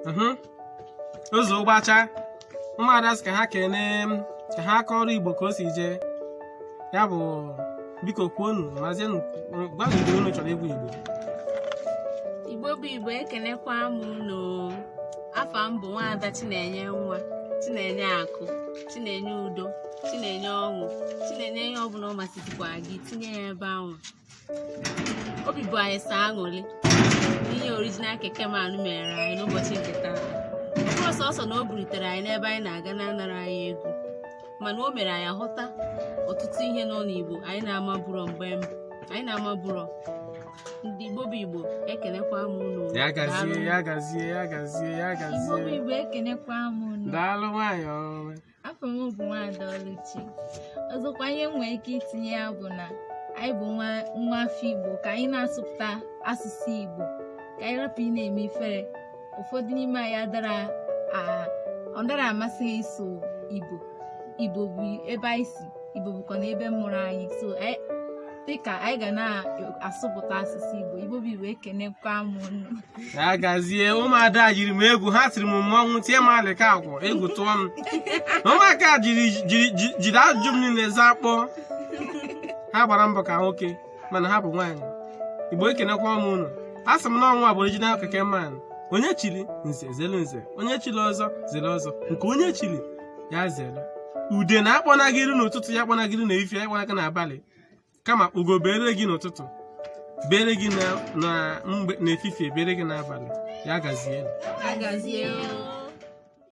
mhm. ụzọ ụgbacha ụmụada sị ka ha kene ka ha kọọrọ igbo ka o si jee ya bụ biko kwuonụ mazienụ gwanụ ihe unu chọrọ ịgwa igbo igbo bụ igbo ekenekwa m unu afa m bụ nwaada chinenye nwa chinenye akụ chinenye udo chinenye ọṅụ chinenye ihe ọbụla ọ masịzikwa gị tinye ya ebe ahụ obi bụ anyị sọ aṅụrị ihe original keke man mere anyị n'ụbọchị nke taa ọ bụrọ sọsọ na o burutere anyị n'ebe anyị na-aga na-anara anyị ego mana o mere anyị hụta ọtụtụ ihe nọ n'igbo anyị na-amabụrọ mgbe mbụ anyị na-amabụrọ ndị igbo bụ igbo ekenekwa m unu ya gazie ya gazie ya gazie ya igbo bụ gazie igbo ekenekwa m unu daalụ nwayọọ afa m bụ nwaada Oluchi ọzọkwa ihe m nwere ike itinye ya bụ na anyị bụ nwa nwa afọ Igbo ka anyị na-asụpụta asụsụ Igbo ka anyị rapụ ịna-eme ifere ụfọdụ n'ime anyị adara a- ọ dara amasị ha ịsụ Igbo Igbo bụ ebe anyị si Igbo bụkwanụ ebe a mụrụ anyị so anyị- dịka anyị ga na-asụpụta asụsụ Igbo Igbo bụ Igbo ekenekwa m unu. ya gazie ụmụada yiri m egwu ha tiri m mmọnwụ tie m alịka akwụ egwu tụọ m ụmụaka jiri jiri ajụjụ m niile zakpọọ ha gbara mbọ ka nwoke mana ha bụ nwaanyị igbo ekenekwa m unu asị m na ọ mụwa bụ original keke man onye chiri nze zere nze onye chiri ọzọ zere ọzọ nke onye chiri ya zere udene akpọna gị iru n'ụtụtụ ya akpọna gị iru n'efifie ya akpọna gị n'abalị kama ugo bere gị n'ụtụtụ bere gị n'efifie bere gị n'abalị ya gazie